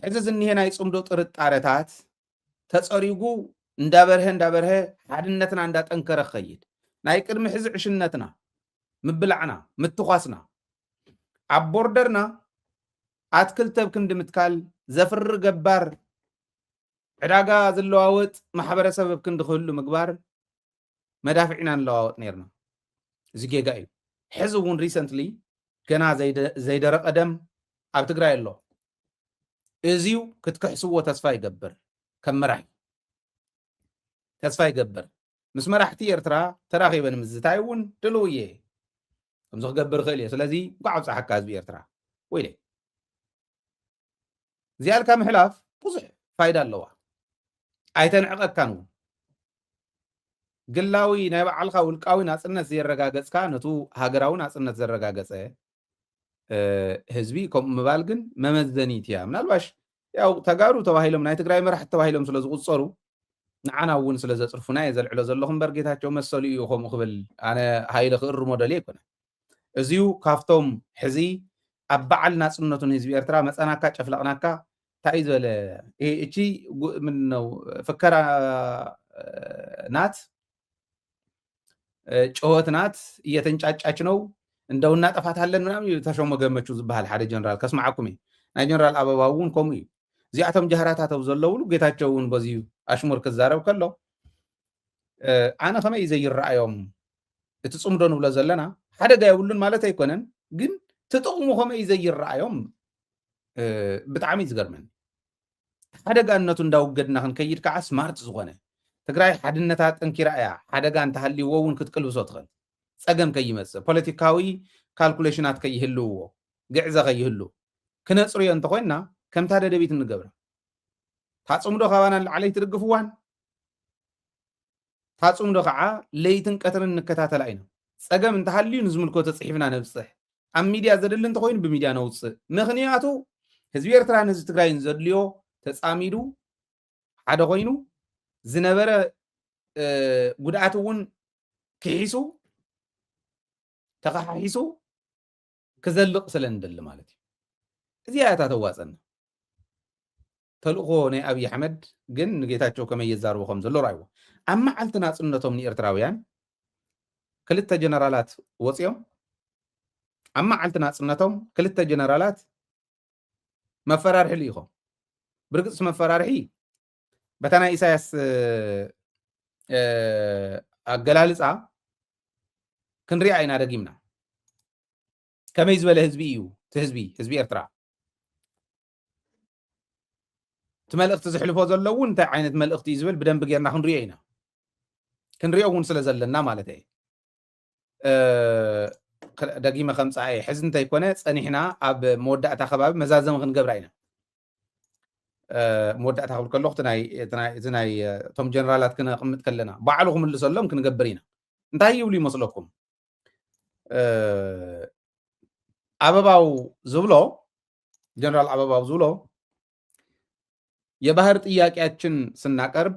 ሕዚ ዝኒሄ ናይ ፅምዶ ጥርጣረታት ተፀሪጉ እንዳበርሀ እንዳበርሀ ሓድነትና እንዳጠንከረ ክኸይድ ናይ ቅድሚ ሕዚ ዕሽነትና ምብላዕና ምትኳስና ኣብ ቦርደርና ኣትክልቲ ኣብ ክንዲ ምትካል ዘፍሪ ገባር ዕዳጋ ዝለዋወጥ ማሕበረሰብ ኣብ ክንዲ ክህሉ ምግባር መዳፍዕ ኢና ንለዋወጥ ነይርና። እዚ ጌጋ እዩ። ሕዚ እውን ሪሰንትሊ ገና ዘይደረቐ ደም ኣብ ትግራይ ኣሎ። እዚዩ ክትክሕስዎ ተስፋ ይገብር ከም መራሒ ተስፋ ይገብር ምስ መራሕቲ ኤርትራ ተራኺበ ንምዝታይ እውን ድልው እየ ከምዚ ክገብር ይኽእል እየ ስለዚ እንኳዕ ኣብፀሓካ ህዝቢ ኤርትራ ወይለይ እዚኣ ኢልካ ምሕላፍ ብዙሕ ፋይዳ ኣለዋ ኣይተንዕቐካን እውን ግላዊ ናይ በዓልካ ውልቃዊ ናፅነት ዘየረጋገፅካ ነቱ ሃገራዊ ናፅነት ዘረጋገፀ ህዝቢ ከምኡ ምባል ግን መመዘኒት እያ ምናልባሽ ያው ተጋሩ ተባሂሎም ናይ ትግራይ መራሕቲ ተባሂሎም ስለ ዝቁፀሩ ንዓና እውን ስለ ዘፅርፉና እየ ዘልዕሎ ዘለኹ እምበር ጌታቸው መሰሉ እዩ ከምኡ ክብል ኣነ ሃይለ ክእርሞ ደልየ ኣይኮነ እዚዩ ካብቶም ሕዚ ኣብ በዓል ናጽነቱ ንህዝቢ ኤርትራ መጸናካ ጨፍለቕናካ ታይ ዝበለ እቺ ምንድነው ፍከራ ናት ጩኸት ናት እየተንጫጫች ነው እንደው እናጠፋታለን ምናምን እዩ ተሾመ ገመቹ ዝበሃል ሓደ ጀነራል ከስማዓኩም እዩ ናይ ጀነራል ኣበባ እውን ከምኡ እዩ እዚኣቶም ጃህራታት ኣብ ዘለውሉ ጌታቸው እውን በዚ ኣሽሙር ክዛረብ ከሎ ኣነ ከመይ እዩ ዘይረኣዮም እቲ ፅምዶ ንብሎ ዘለና ሓደጋ የብሉን ማለት ኣይኮነን፣ ግን ትጥቕሙ ከመይ እዩ ዘይረኣዮም ብጣዕሚ ዝገርመኒ ሓደጋነቱ እንዳውገድና ክንከይድ ከዓ ስማርት ዝኾነ ትግራይ ሓድነታ ጠንኪራ እያ ሓደጋ እንተሃልይዎ እውን ክትቅልብሶ ትኽእል ፀገም ከይመፅእ ፖለቲካዊ ካልኩሌሽናት ከይህልውዎ ግዕዘ ከይህሉ ክነፅርዮ እንተኮይንና ከምታ ደደቢት እንገብራ ታፅምዶ ካባና ንላዕለይ ትድግፍዋን እታ ጽምዶ ከኣ ለይትን ቀትርን ንከታተላ ኢና። ጸገም እንተሃልዩ ንዝምልከቶ ጽሒፍና ነብጽሕ። ኣብ ሚድያ ዘድሊ እንተኾይኑ ብሚድያ ነውጽእ። ምኽንያቱ ህዝቢ ኤርትራን ህዝቢ ትግራይን ዘድልዮ ተጻሚዱ ሓደ ኮይኑ ዝነበረ ጉድኣት እውን ክሒሱ ተኸሓሒሱ ክዘልቕ ስለ ንደሊ ማለት እዩ። እዚኣ እያ እታ ተዋጸና። ተልእኾ ናይ ኣብይ ኣሕመድ ግን ንጌታቸው ከመይ የዛርቦ ከም ዘሎ ርኣይዎ። ኣብ መዓልቲ ናጽነቶም ንኤርትራውያን ክልተ ጀነራላት ወጺኦም ኣብ መዓልቲ ናጽነቶም ክልተ ጀነራላት መፈራርሒ ልኢኾም። ብርግጽ መፈራርሒ በታ ናይ ኢሳያስ ኣገላልፃ ክንሪኣ ኢና ደጊምና ከመይ ዝበለ ህዝቢ እዩ እቲ ህዝቢ ህዝቢ ኤርትራ እቲ መልእኽቲ ዝሕልፎ ዘሎ እውን እንታይ ዓይነት መልእኽቲ እዩ ዝብል ብደንቢ ጌርና ክንሪኦ ኢና ክንሪኦ እውን ስለ ዘለና ማለት እየ ደጊመ ከምፃ እየ ሕዚ እንተይኮነ ፀኒሕና ኣብ መወዳእታ ከባቢ መዛዘሚ ክንገብራ ኢና መወዳእታ ክብል ከለኹ እቲ ናይ እቶም ጀነራላት ክነቕምጥ ከለና ባዕሉ ክምልሰሎም ክንገብር ኢና እንታይ ይብሉ ይመስለኩም ኣበባው ዝብሎ ጀነራል ኣበባው ዝብሎ የባህር ጥያቄያችን ስናቀርብ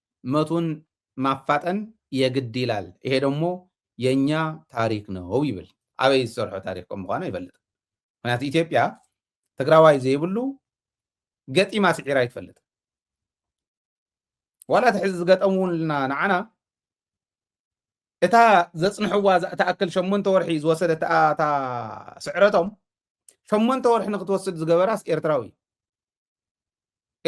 መቱን ማፋጠን የግድ ይላል ይሄ ደሞ የኛ ታሪክ ነው ይብል ኣበይ ዝሰርሖ ታሪክ ከም ምኳኑ ኣይፈልጥን ምክንያቱ ኢትዮጵያ ትግራዋይ ዘይብሉ ገጢማ ስዒራ ኣይትፈልጥን ዋላ እቲ ሕዚ ዝገጠምውልና ንዓና እታ ዘፅንሕዋ እትኣክል ሸሞንተ ወርሒ ዝወሰደት እታ ስዕረቶም ሸሞንተ ወርሒ ንክትወስድ ዝገበራስ ኤርትራዊ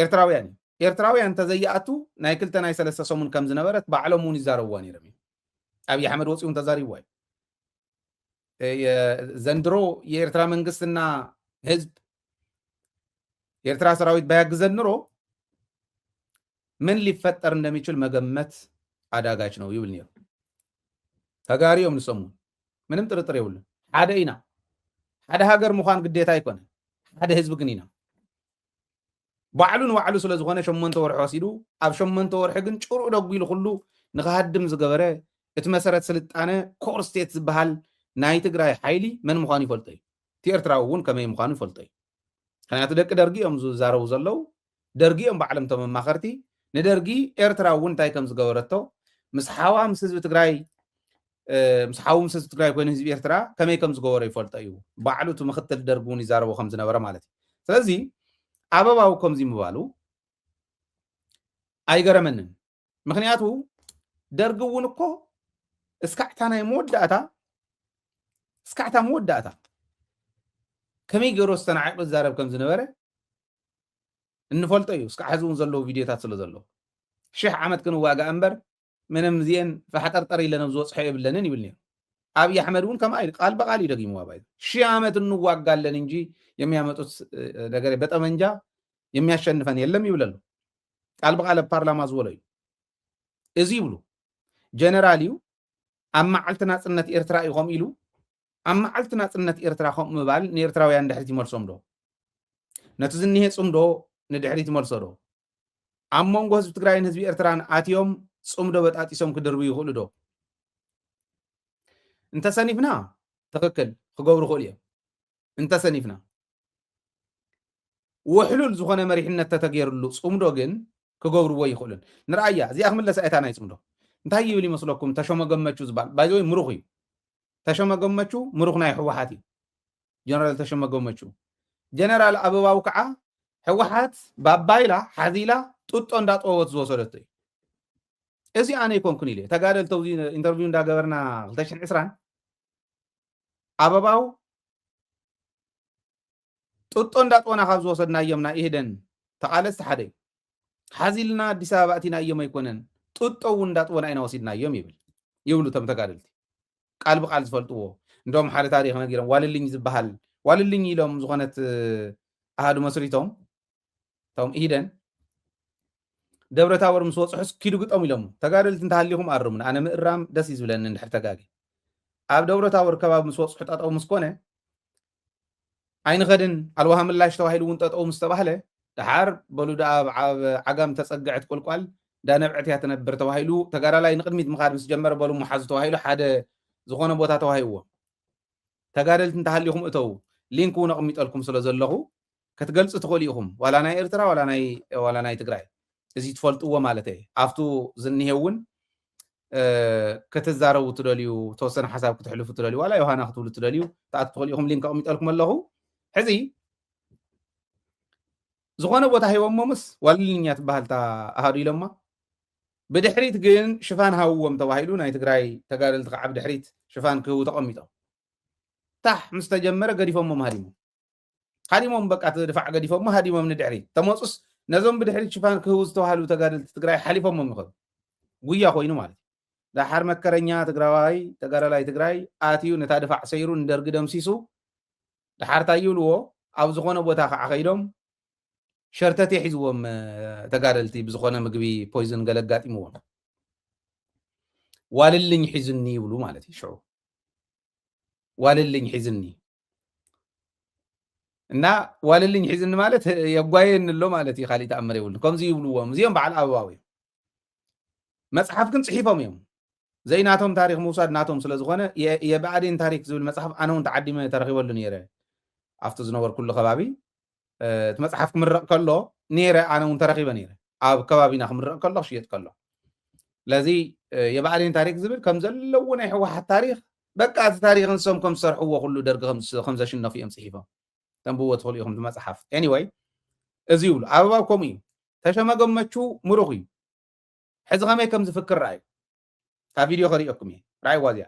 ኤርትራውያን እዩ ኤርትራውያን ተዘይኣቱ ናይ ክልተ ናይ ሰለስተ ሰሙን ከም ዝነበረት ባዕሎም እውን ይዛረብዋ ነይሮም እዩ ኣብዪ ኣሕመድ ወፂኡ ተዛሪብዋ እዩ ዘንድሮ የኤርትራ መንግስትና ህዝብ የኤርትራ ሰራዊት ባያግዘን ኑሮ ምን ሊፈጠር እንደሚችል መገመት ኣዳጋች ነው ይብል ነይሩ። ተጋሩ እዮም ንሶም እውን ምንም ጥርጥር የብሉን። ሓደ ኢና። ሓደ ሃገር ምዃን ግዴታ ኣይኮነን። ሓደ ህዝቢ ግን ኢና። ባዕሉ ንባዕሉ ስለ ዝኾነ ሸሞንተ ወርሒ ወሲዱ ኣብ ሸሞንተ ወርሒ ግን ጭርኡ ደጒሉ ኩሉ ንክሃድም ዝገበረ እቲ መሰረት ስልጣነ ኮር ስቴት ዝበሃል ናይ ትግራይ ሓይሊ መን ምዃኑ ይፈልጦ እዩ እቲ ኤርትራዊ እውን ከመይ ምዃኑ ይፈልጦ እዩ ምክንያቱ ደቂ ደርጊ እዮም ዝዛረቡ ዘለው ደርጊ እዮም ባዕሎም እቶም ኣማኸርቲ ንደርጊ ኤርትራ እውን እንታይ ከም ዝገበረቶ ምስ ሓዋ ምስ ህዝቢ ትግራይ ምስ ሓዉ ምስ ህዝቢ ትግራይ ኮይኑ ህዝቢ ኤርትራ ከመይ ከም ዝገበሮ ይፈልጦ እዩ ባዕሉ እቲ ምክትል ደርጊ እውን ይዛረቦ ከም ዝነበረ ማለት እዩ ስለዚ ኣበባው ከምዚ ምባሉ ኣይገረመንን ምክንያቱ ደርጊ እውን እኮ እስካዕታ ናይ መወዳእታ እስካዕታ መወዳእታ ከመይ ገይሮ ዝተናዒቑ ይዛረብ ከም ዝነበረ እንፈልጦ እዩ እስካዕ ሕዚ እውን ዘለዉ ቪድዮታት ስለ ዘለዉ ሽሕ ዓመት ክንዋጋእ እምበር ምንም እዚአን ፋሕጠርጠር ኢለን ኣብ ዝበፅሖ የብለንን ይብል ነይሩ ኣብዪ ኣሕመድ እውን ከምኣ ኢሉ ቃል በቃል እዩ ደጊምዋ ባይ ሺህ ዓመት እንዋጋለን እንጂ የሚያመጡት ነገር በጠመንጃ የሚያሸንፈን የለም ይብለሉ ቃል ብቃል ኣብ ፓርላማ ዝበሎ እዩ እዚ ይብሉ ጀነራል እዩ ኣብ መዓልቲ ናፅነት ኤርትራ እዩ ከምኡ ኢሉ ኣብ መዓልቲ ናፅነት ኤርትራ ከምኡ ምባል ንኤርትራውያን ድሕሪት ይመልሶም ዶ ነቲ ዝኒሄ ፅምዶ ንድሕሪት ይመልሶ ዶ ኣብ መንጎ ህዝቢ ትግራይን ህዝቢ ኤርትራን ኣትዮም ፅምዶ በጣጢሶም ክድርቡ ይኽእሉ ዶ እንተሰኒፍና ትኽክል ክገብሩ ክእሉ እዮም እንተሰኒፍና ውሕሉል ዝኾነ መሪሕነት ተተገይርሉ ፅምዶ ግን ክገብርዎ ይኽእሉን ንርኣያ እዚኣ ክምለስ ኣየታ ናይ ፅምዶ እንታይ ይብል ይመስለኩም ተሾመ ገመቹ ዝበሃል ባይዘወይ ምሩኽ እዩ ተሾመ ገመቹ ምሩኽ ናይ ህወሓት እዩ ጀነራል ተሾመ ገመቹ ጀነራል ኣበባው ከዓ ህወሓት ባባይላ ሓዚላ ጡጦ እንዳጠወት ዝወሰደቶ እዩ እዚ ኣነ ይኮንኩን ኢለ ተጋደልቲ ኣብዚ ኢንተርቪው እንዳገበርና 220 ኣበባው ጥጦ እንዳጦና ካብ ዝወሰድናዮም ናይ ኢህደን ተቓለስቲ ሓደ እዩ። ሓዚልና ኣዲስ ኣበባ እቲናዮም ኣይኮነን ጥጦ እውን እንዳጥቦና ኢና ወሲድናዮም ይብል ይብሉ እቶም ተጋደልቲ ቃል ብቃል ዝፈልጥዎ እንደውም ሓደ ታሪክ ነጊሮም ዋልልኝ ዝበሃል ዋልልኝ ኢሎም ዝኾነት ኣሃዱ መስሪቶም እቶም ኢህደን ደብረ ታቦር ምስ ወፅሑስ ኪዱ ግጠሙ ኢሎሞ ተጋደልቲ እንተሃሊኹም ኣርሙን ኣነ ምእራም ደስ እዩ ዝብለኒ እንድሕር ተጋጊ ኣብ ደብረ ታቦር ከባቢ ምስ ወፅሑ ጠጠው ምስ ኮነ ኣይንኸድን ኣልዋሃ ምላሽ ተባሂሉ እውን ጠጠው ምስ ተባህለ ድሓር በሉ ድኣ ኣብ ዓጋም ተፀግዐት ቁልቋል ዳነብዐት እያ ትነብር ተባሂሉ ተጋዳላይ ንቅድሚት ምኻድ ምስ ጀመረ በሉ መሓዙ ተባሂሉ ሓደ ዝኾነ ቦታ ተዋሂዎም ተጋደልቲ እንተሃሊኹም እተው ሊንክ እውን ኣቕሚጠልኩም ስለ ዘለኹ ከትገልጹ ትኽእሉ ኢኹም ዋላ ናይ ኤርትራ ዋላ ናይ ዋላ ናይ ትግራይ እዚ ትፈልጥዎ ማለት እየ ኣብቱ ዝኒሄ እውን ከተዛረቡ ትደልዩ ተወሰነ ሓሳብ ክትሕልፉ ትደልዩ ዋላ ዮሃና ክትብሉ ትደልዩ ተኣት ትኽእሉ ኢኹም ሊንክ ኣቕሚጠልኩም ኣለኹ ሕዚ ዝኾነ ቦታ ሂቦሞ ምስ ዋልልኛ ትበሃል እታ ኣሃዱ ኢሎማ ብድሕሪት ግን ሽፋን ሃውዎም ተባሂሉ ናይ ትግራይ ተጋደልቲ ከዓ ብድሕሪት ሽፋን ክህቡ ተቐሚጦም ታሕ ምስ ተጀመረ ገዲፎሞ ማሃዲሞም ሃዲሞም በቃ እቲ ድፋዕ ገዲፎሞ ሃዲሞም ንድሕሪት ተመፁስ ነዞም ብድሕሪት ሽፋን ክህቡ ዝተባሃሉ ተጋደልቲ ትግራይ ሓሊፎሞም ይኸዱ ጉያ ኮይኑ ማለት እዩ ዳሓር መከረኛ ትግራዋይ ተጋዳላይ ትግራይ ኣትዩ ነታ ድፋዕ ሰይሩ ንደርጊ ደምሲሱ ዳሓር ታይ ይብልዎ ኣብ ዝኾነ ቦታ ከዓ ከይዶም ሸርተት የሒዝዎም ተጋደልቲ ብዝኾነ ምግቢ ፖይዝን ገለ ኣጋጢምዎም ዋልልኝ ሒዝኒ ይብሉ ማለት እዩ ሽዑ ዋልልኝ ሒዝኒ እና ዋልልኝ ሒዝኒ ማለት የጓየኒ ኣሎ ማለት እዩ ካሊእ ተኣምር የብሉን ከምዚ ይብልዎም እዚኦም በዓል ኣበባዊ እዮም መፅሓፍ ግን ፅሒፎም እዮም ዘይናቶም ታሪክ ምውሳድ ናቶም ስለዝኾነ የብኣዴን ታሪክ ዝብል መፅሓፍ ኣነ እውን ተዓዲመ ተረኪበሉ ነይረ ኣብቲ ዝነበርኩሉ ከባቢ እቲ መጽሓፍ ክምረቕ ከሎ ነይረ ኣነ እውን ተረኺበ ነይረ ኣብ ከባቢና ክምረቕ ከሎ ክሽየጥ ከሎ ስለዚ የባዕዴን ታሪክ ዝብል ከም ዘለዎ ናይ ህወሓት ታሪክ በቃ እቲ ታሪክ ንሶም ከም ዝሰርሕዎ ኩሉ ደርጊ ከም ዘሽነፉ እዮም ፅሒፎም ተንብዎ ትኽእሉ ኢኹም መፅሓፍ ኤኒወይ እዚ ይብሉ ኣበባብ ከምኡ እዩ ተሸመገመቹ ምሩኽ እዩ ሕዚ ከመይ ከም ዝፍክር ረኣዩ ካብ ቪድዮ ከሪኦኩም እየ ረኣይዋ እዚኣ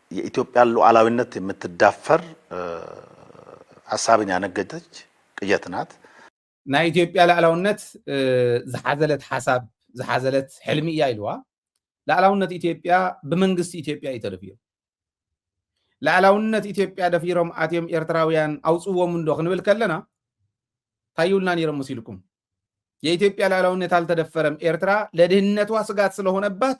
የኢትዮጵያን ሉዓላዊነት የምትዳፈር ሐሳብን ያነገተች ቅዠት ናት። ናይ ኢትዮጵያ ልኣላውነት ዝሓዘለት ሓሳብ ዝሓዘለት ሕልሚ እያ ኢልዋ። ልኣላውነት ኢትዮጵያ ብመንግስቲ ኢትዮጵያ እዩ ተደፊሩ። ልኣላውነት ኢትዮጵያ ደፊሮም ኣትዮም ኤርትራውያን ኣውጽዎም እንዶ ክንብል ከለና ታዩልና ነይሮም መሲልኩም የኢትዮጵያ ልኣላውነት ኣልተደፈረም ኤርትራ ለድህነቷ ስጋት ስለሆነባት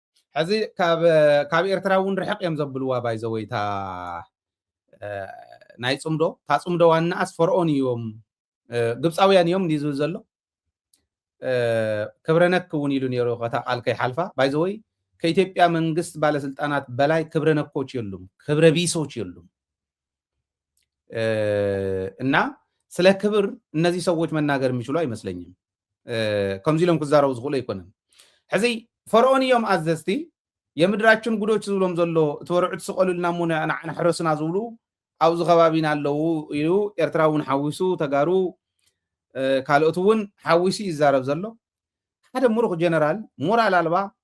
ሕዚ ካብ ካብ ኤርትራ እውን ርሕቅ እዮም ዘብልዋ ባይዘወይ እታ ናይ ፅምዶ እታ ፅምዶ ዋናኣስ ፈርኦን እዮም ግብፃውያን እዮም እንዲ ዝብል ዘሎ ክብረነክ እውን ኢሉ ነይሩ ከታ ቃል ከይሓልፋ ባይዘወይ ከኢትዮጵያ መንግስት ባለስልጣናት በላይ ክብረነኮች የሉም ክብረ ቢሶች የሉም እና ስለ ክብር እነዚህ ሰዎች መናገር የሚችሉ አይመስለኝም ከምዚ ኢሎም ክዛረቡ ዝኽእሉ ኣይኮነን ሕዚ ፈርኦን እዮም ኣዘዝቲ የምድራችን ጉዶች ዝብሎም ዘሎ እቲ ወርዑት ስቀሉልና እሞ ንዓና ሕረሱና ዝብሉ ኣብዚ ከባቢና ኣለዉ ኢሉ ኤርትራ እውን ሓዊሱ ተጋሩ ካልኦት እውን ሓዊሱ ይዛረብ ዘሎ ሓደ ሙሩኽ ጀነራል ሞራል ኣልባ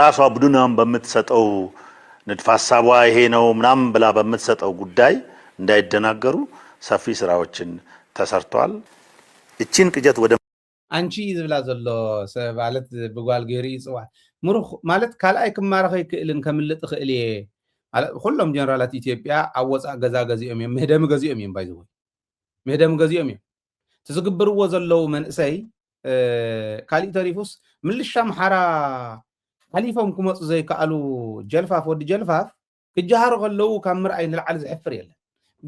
ራሱ አቡዱናም በምትሰጠው ንድፍ ሀሳቧ ይሄ ነው ምናምን ብላ በምትሰጠው ጉዳይ እንዳይደናገሩ ሰፊ ስራዎችን ተሰርተዋል። እቺን ቅጀት ወደ ኣንቺ እዩ ዝብላ ዘሎ ሰብ ማለት ብጓል ገይሩ እዩ ዝፅዋዕ ምሩኽ ማለት ካልኣይ ክማረኽ ኣይክእልን ከምልጥ እኽእል እየ ማለት ኩሎም ጀነራላት ኢትዮጵያ ኣብ ወፃእ ገዛ ገዚኦም እዮም ምህደሚ ገዚኦም እዮም ባይዘወይ ምህደሚ ገዚኦም እዮም እቲ ዝግብርዎ ዘለዉ መንእሰይ ካሊእ ተሪፉስ ምልሻ ኣምሓራ ሓሊፎም ክመፁ ዘይከኣሉ ጀልፋፍ ወዲ ጀልፋፍ ክጀሃሩ ከለዉ ካብ ምርኣይ ንልዓሊ ዝሕፍር የለን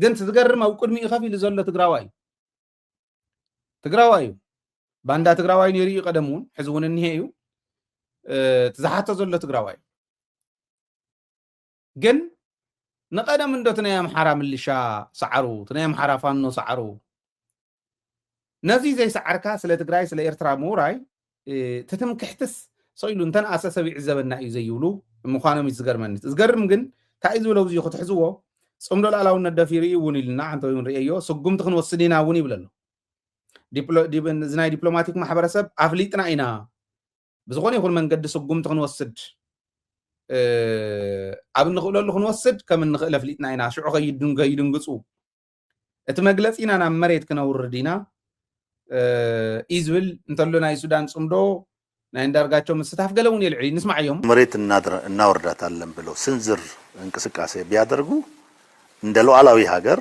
ግን እቲ ዝገርም ኣብ ቅድሚኡ ከፍ ኢሉ ዘሎ ትግራዋይ እዩ ትግራዋይ እዩ ባንዳ ትግራዋይ ነይሩ እዩ ቀደም እውን ሕዚ እውን እኒሄ እዩ እቲ ዝሓቶ ዘሎ ትግራዋይ እዩ ግን ንቀደም እንዶ እቲ ናይ ኣምሓራ ምልሻ ሰዓሩ እቲ ናይ ኣምሓራ ፋኖ ሰዓሩ ነዚ ዘይሰዓርካ ስለ ትግራይ ስለ ኤርትራ ምውራይ ትትምክሕትስ ሰኢሉ እንተነኣሰ ሰብ ይዕዘበና እዩ ዘይብሉ ምዃኖም እዩ ዝገርመኒ ዝገርም ግን እንታይ እዩ ዝብሎ ብዙ ክትሕዝዎ ፅምዶ ላእላውነት ደፊሩ እዩ እውን ኢልና ሓንቲ እውን ርእየዮ ስጉምቲ ክንወስድ ኢና እውን ይብለ ኣሎ እዚ ናይ ዲፕሎማቲክ ማሕበረሰብ ኣፍሊጥና ኢና ብዝኾነ ይኹን መንገዲ ስጉምቲ ክንወስድ ኣብ እንኽእለሉ ክንወስድ ከም እንኽእል ኣፍሊጥና ኢና። ሽዑ ከይድንግፁ እቲ መግለፂና ናብ መሬት ክነውርድ ኢና እዩ ዝብል እንተሎ ናይ ሱዳን ፅምዶ ናይ እንዳርጋቸው ምስታፍ ገለ እውን የልዕል ንስማዓዮም። መሬት እናወርዳታለን ብለው ስንዝር እንቅስቃሴ ቢያደርጉ እንደ ሉዓላዊ ሃገር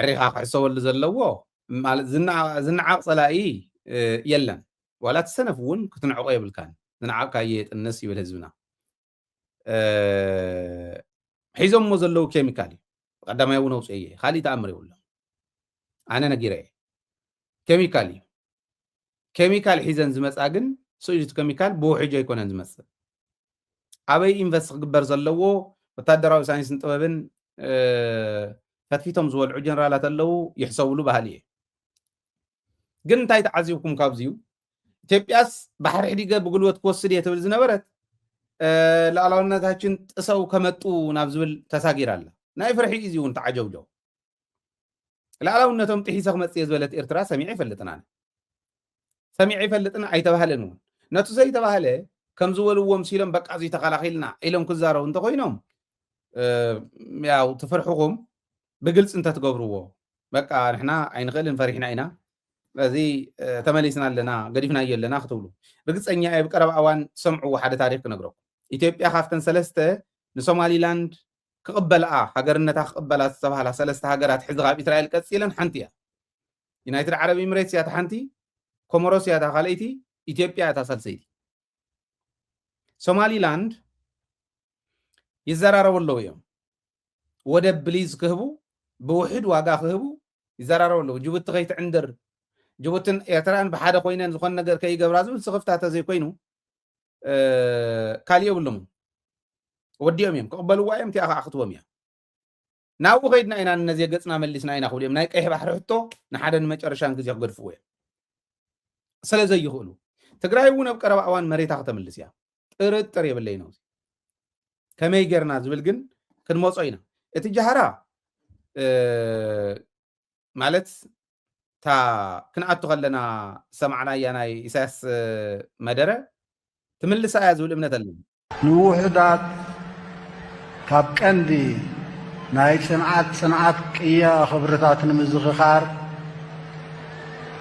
ዕሪኻ ክሕሰበሉ ዘለዎ ማለት ዝነዓቕ ጸላኢ የለን ዋላ እቲ ሰነፍ እውን ክትንዕቆ የብልካን ዝነዓቕካዮ የጥንስ ይብል ህዝብና ሒዞሞ ዘለዉ ኬሚካል እዩ ቀዳማይ እውን ኣውፅኦ እየ ካሊእ ተኣምር የብሎም ኣነ ነጊረ እየ ኬሚካል እዩ ኬሚካል ሒዘን ዝመጻ ግን ስእጁት ኬሚካል ብውሕጅ ኣይኮነን ዝመጽእ ኣበይ ኢንቨስት ክግበር ዘለዎ ወታደራዊ ሳይንስን ጥበብን ፈትፊቶም ዝበልዑ ጀነራላት ኣለዉ ይሕሰብሉ ባህሊ እየ ግን እንታይ ተዓዚብኩም ካብዚዩ ኢትዮጵያስ ባሕሪ ሕዲገ ብጉልበት ክወስድ እየ ትብል ዝነበረት ላዕላውነታችን ጥሰው ከመጡ ናብ ዝብል ተሳጊር ኣላ ናይ ፍርሒ እዩ እውን ተዓጀብጀው ላዕላውነቶም ጥሒሰ ክመፅእ እየ ዝበለት ኤርትራ ሰሚዐ ይፈልጥን ኣነ ሰሚዐ ይፈልጥን ኣይተባህለን እውን ነቱ ዘይተባህለ ከም ዝበልዎ ምሲሎም በቃ እዙይ ተኸላኺልና ኢሎም ክዛረቡ እንተኮይኖም ያው ትፍርሕኹም ብግልፂ እንተትገብርዎ በቃ ንሕና ኣይንኽእልን ፈሪሕና ኢና ስለዚ ተመሊስና ኣለና ገዲፍናዮ ኣለና ክትብሉ ርግፀኛ እየ ብቀረባ እዋን ትሰምዕዎ ሓደ ታሪክ ክነግረኩም ኢትዮጵያ ካብተን ሰለስተ ንሶማሊላንድ ክቕበልኣ ሃገርነታ ክቕበላ ዝተባህላ ሰለስተ ሃገራት ሕዚ ካብ ኢስራኤል ቀጺለን ሓንቲ እያ። ዩናይትድ ዓረብ ኢምሬትስ እያ እታ ሓንቲ፣ ኮሞሮስ እያ እታ ካልኣይቲ፣ ኢትዮጵያ እታ ሳልሰይቲ። ሶማሊላንድ ይዘራረቡ ኣለዉ እዮም ወደብ ብሊዝ ክህቡ ብውሕድ ዋጋ ክህቡ ይዘራረቡ ኣለዉ ጅቡቲ ከይትዕንድር ጅቡትን ኤርትራን ብሓደ ኮይነን ዝኾነ ነገር ከይገብራ ዝብል ስኽፍታ ተዘይኮይኑ ካልእ የብሎምን ወዲኦም እዮም ክቕበልዋ እዮም እቲኣ ከዓ ክትቦም እያ ናብኡ ከይድና ኢና ነዚ ገፅና መሊስና ኢና ክብሉ እዮም ናይ ቀይሕ ባሕሪ ሕቶ ንሓደ ንመጨረሻን ግዜ ክገድፍዎ እዮም ስለ ዘይኽእሉ ትግራይ እውን ኣብ ቀረባ እዋን መሬታ ከተምልስ እያ ጥርጥር የብለይ ነው ከመይ ጌርና ዝብል ግን ክንመፆ ኢና እቲ ጃህራ ማለት እታ ክንኣቱ ከለና ዝሰማዕናያ ናይ ኢሳያስ መደረ ትምልሳ እያ ዝብል እምነት ኣለኒ። ንውሑዳት ካብ ቀንዲ ናይ ጽንዓት ጽንዓት ቅያ ኽብርታት ንምዝኽኻር፣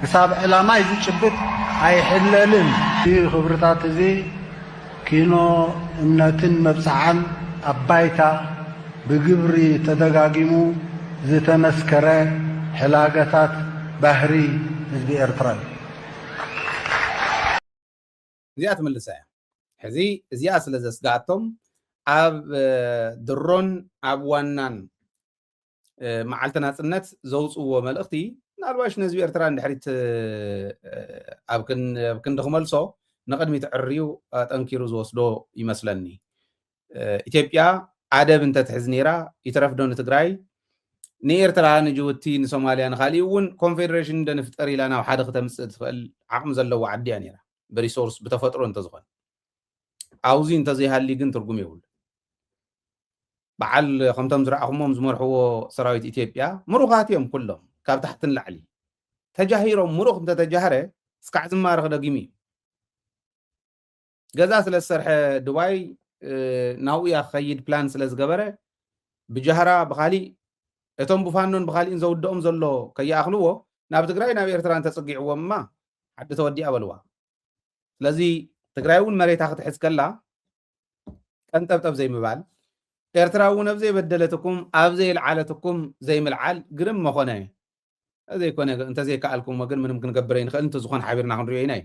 ክሳብ ዕላማይ ዝጭብጥ ኣይሕለልን። እዚ ክብርታት እዚ ኪኖ እምነትን መብጽዓን ኣብ ባይታ ብግብሪ ተደጋጊሙ ዝተመስከረ ሕላገታት ባህሪ ህዝቢ ኤርትራ እዩ። እዚኣ ትምልሳ እያ። ሕዚ እዚኣ ስለ ዘስግኣቶም ኣብ ድሮን ኣብ ዋናን መዓልቲ ናጽነት ዘውጽዎ መልእኽቲ ምናልባሽ ንህዝቢ ኤርትራ ንድሕሪት ኣብ ክንዲ ክመልሶ ንቕድሚት ዕርዩ ኣጠንኪሩ ዝወስዶ ይመስለኒ ኢትዮጵያ ኣደብ እንተትሕዝ ነይራ ይትረፍዶ ንትግራይ ንኤርትራ ንጅቡቲ ንሶማልያ ንካሊእ እውን ኮንፌደሬሽን እንደንፍጠር ኢላ ናብ ሓደ ክተምፅእ ትኽእል ዓቕሚ ዘለዎ ዓዲ እያ ነይራ ብሪሶርስ ብተፈጥሮ እንተዝኾነ ኣብዚ እንተዘይሃልዩ ግን ትርጉም የብሉ በዓል ከምቶም ዝረኣኹሞም ዝመርሕዎ ሰራዊት ኢትዮጵያ ምሩኻት እዮም ኩሎም ካብ ታሕቲ ንላዕሊ ተጃሂሮም ምሩኽ እንተተጃህረ እስካዕ ዝማረኽ ደጊሙ እዩ ገዛ ስለ ዝሰርሐ ድባይ ናብኡ እያ ክኸይድ ፕላን ስለ ዝገበረ ብጃህራ ብካሊእ እቶም ብፋኖን ብካሊእን ዘውድኦም ዘሎ ከይኣኽልዎ ናብ ትግራይ ናብ ኤርትራ እንተፅጊዕዎም እማ ዓዲ ተወዲኣ በልዋ ስለዚ ትግራይ እውን መሬታ ክትሕዝ ከላ ቀንጠብጠብ ዘይምባል ኤርትራ እውን ኣብ ዘይበደለትኩም ኣብ ዘይልዓለትኩም ዘይምልዓል ግርም መኾነ እዘይኮነ እንተዘይከኣልኩሞ ግን ምንም ክንገብር ኣይንኽእል እንተዝኾን ሓቢርና ክንሪኦ ኢና እዩ